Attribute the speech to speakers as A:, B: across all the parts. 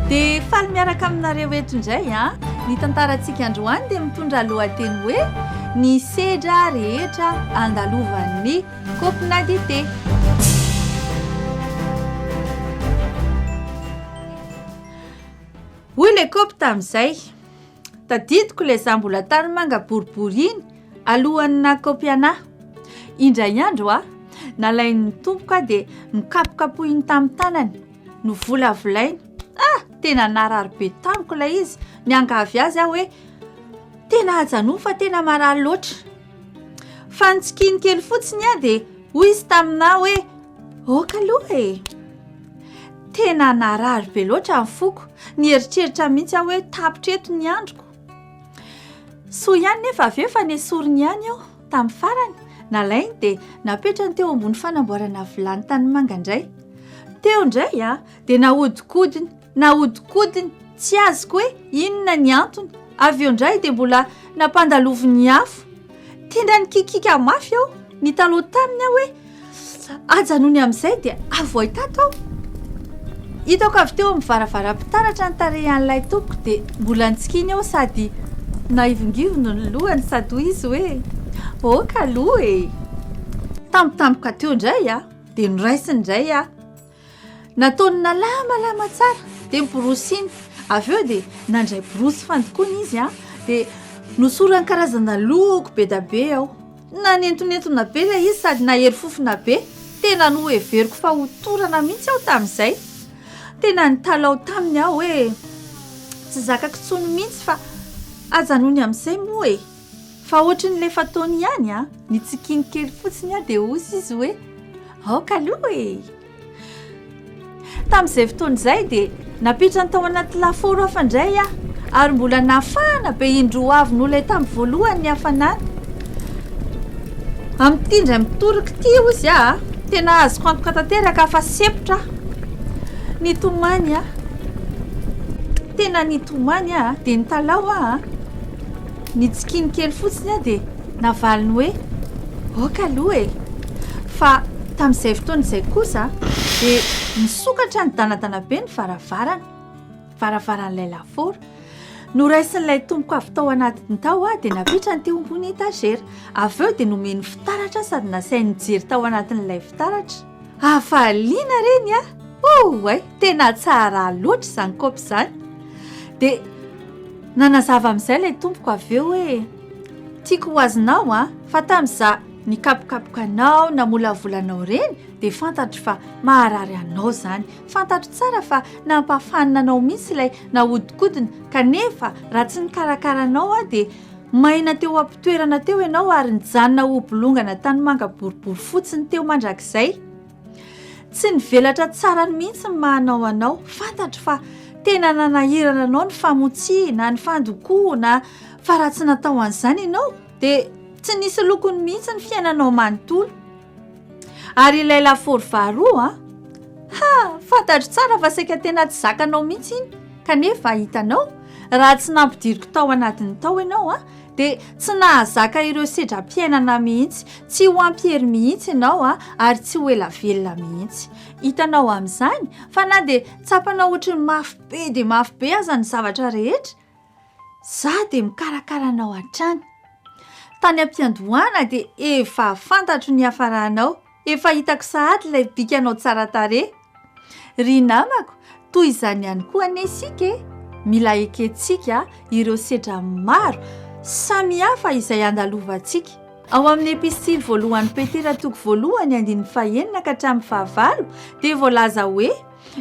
A: Dia faly miaraka aminareo eto indray a! Ny tantarantsika androany dia mitondra lohateny hoe Ny sedra rehetra andalovan'ny kaopina dite. Hoy ilay kaopy tamin'izay. Tadidiko ilay izaho mbola tany manga boribory iny alohan'ny nakaopy anah. Indray andro aho, nalain'ny tompoko aho dia nokapokapohiny tamin'ny tanany, novolavolainy. Ah, tena narary be tamiko ilay izy. Niangavy azy aho hoe, tena hajanony fa tena marary loatra. Fa nitsikiny kely fotsiny aho dia hoy izy taminah hoe, ok aloha e! Tena narary be loatra ny foko, nieritreritra mihitsy aho hoe tapitra eto ny androko. Soa ihany nefa avy eo fa nesoriny ihany aho tamin'ny farany, nalainy dia napetrany teo ambony fanamboarana vilany tanimanga indray. Teo indray aho dia nahodikodiny, nahodikodiny tsy azoko hoe inona ny antony. Avy eo indray dia mbola nampandaloviny afo. Tena nikikika mafy aho, nitaloha taminy aho hoe. Aza nony amin'izay dia avoay tato aho. Hitako avy teo amin'ny varavaram-pitaratra ny tarehan'ilay tompoko dia mbola nitsikiny eo sady naivongivony ny lohany sady hoy izy hoe ok aloha e! Tampotampoka teo indray aho dia noraisiny indray aho. Nataony nalamalama tsara dia miborosiny. Avy eo dia nandray borosy fandokoana izy a dia nosorany karazana loko be da be ao. Nanentonentona be ilay izy sady nahery fofona be. Tena noheveriko fa ho torana mihitsy aho tamin'izay. Tena nitalaho taminy aho hoe tsy zakako intsony mihitsy fa ajanony amin'izay moa e. Fa ohatry ny lefa taony ihany a! Nitsikiany kely fotsiny aho dia hozy izy hoe, aoka aloha e! Tamin'izay fotoana izay dia nampitrany tao anaty lafaoro hafa indray aho ary mbola nafahana be indroa avo noho ilay tamin'ny voalohany ny hafanana. Amin'ity indray mitoraka ity hozy a! Tena azoko antoka tanteraka fa sempotra aho. Nitomany aho, tena nitomany aho dia nitalaho aho. Nitsikiany kely fotsiny aho dia navaliny hoe, Aoka aloha e! Fa tamin'izay fotoana izay kosa dia nisokatra nidanadana be ny varavarana, varavaran'ilay lafaoro. Noraisin'ilay tompoko avy tao anatiny tao aho dia napetrany teo ambony etazera. Avy eo dia nomeny fitaratra sady nasainy nijery tao anatin'ilay fitaratra. Hafaliana reny a! Oay! Tena tsara loatra izany kaopy izany. Dia nanazava amin'izay ilay tompoko avy eo hoe tiako ho azonao an, fa tamin'izaho nikapokapoka anao, namolavola anao ireny dia fantatro fa maharary anao izany. Fantatro tsara fa nampahafanina anao mihitsy ilay nahodikodina kanefa raha tsy nikarakara anao aho dia Maina teo am-pitoerana teo ianao ary nijanona hobolongana tanimanga boribory fotsiny teo mandrakizay. Tsy nivelatra tsara ny mihitsy ny mahanao anao. Fantatro fa tena nanahirana anao ny famotsiana, ny fandokoana, fa raha tsy natao an'izany ianao dia tsy nisy lokony mihitsy ny fiainanao manontolo. Ary ilay lafaoro faharoa a! Ha! Fantatro tsara fa saika tena tsy zakanao mihitsy iny, kanefa hitanao, raha tsy nampidiriko tao anatiny tao ianao a, dia tsy nahazaka ireo sedram-piainana mihitsy, tsy ho ampiery mihitsy ianao a, ary tsy ho ela velona mihitsy. Hitanao amin'izany fa na dia tsapanao ohatry ny mafy be dia mafy be aza ny zavatra rehetra, Za dia mikarakara anao hatrany. Tany am-piandohana dia efa fantatro ny hiafaranao, efa hitako sahady ilay bikanao tsara tarehy. Ry namako, toy izany ihany koa anie isika e! Mila ekentsika ireo sedra maro samihafa izay andalovantsika. Ao amin'ny epistily voalohan'i Petera toko voalohany andininy fahenina ka hatramin'ny fahavalo dia voalaza hoe.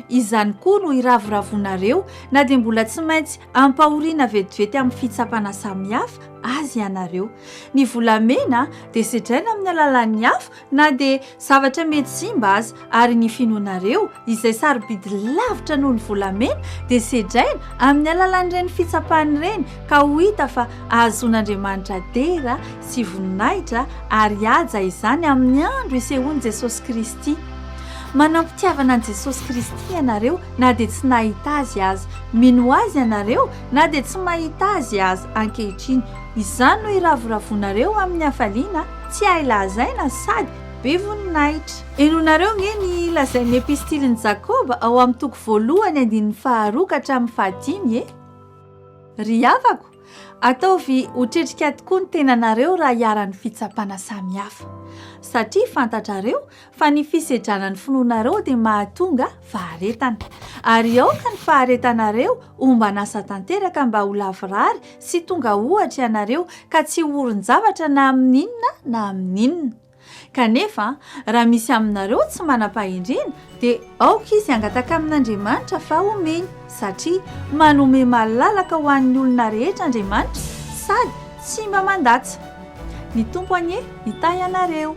A: Izany koa no iravoravonareo na dia mbola tsy maintsy ampahoriana vetivety amin'ny fitsapana samihafa azy ianareo. Ny volamena dia sedraina amin'ny alalan'ny afo na dia zavatra mety simba aza ary ny finoanareo izay sarobidy lavitra noho ny volamena dia sedraina amin'ny alalan'ireny fitsapana ireny ka ho hita fa ahazoan'Andriamanitra dera sy voninahitra ary haja izany amin'ny andro isehoan'i Jesosy Kristy. Manam-pitiavana an'i Jesosy Kristy ianareo na dia tsy nahita Azy aza. Mino Azy ianareo na dia tsy mahita Azy aza ankehitriny. Izany no iravoravoanareo amin'ny hafaliana tsy hay lazaina sady be voninahitra. Henoinareo ange ny lazain'ny Epistilin'i Jakoba ao amin'ny toko voalohany andininy faharoa ka hatramin'ny fahadimy e! Ry havako, Ataovy ho tretrika tokoa ny tenanareo raha iharan'ny fitsapana samihafa, satria fantatrareo fa ny fisedrana ny finoanareo dia mahatonga faharetana, ary aoka ny faharetanareo homban'asa tanteraka mba ho lavorary sy tonga ohatra ianareo ka tsy ho orin-javatra na amin'inona na amin'inona. Kanefa, raha misy aminareo tsy manam-pahendrena, dia aoka izy hangataka amin'Andriamanitra fa homeny, satria manome malalaka ho an'ny olona rehetra Andriamanitra, sady tsy mba mandatsa. Ny Tompo anie hitahy anareo.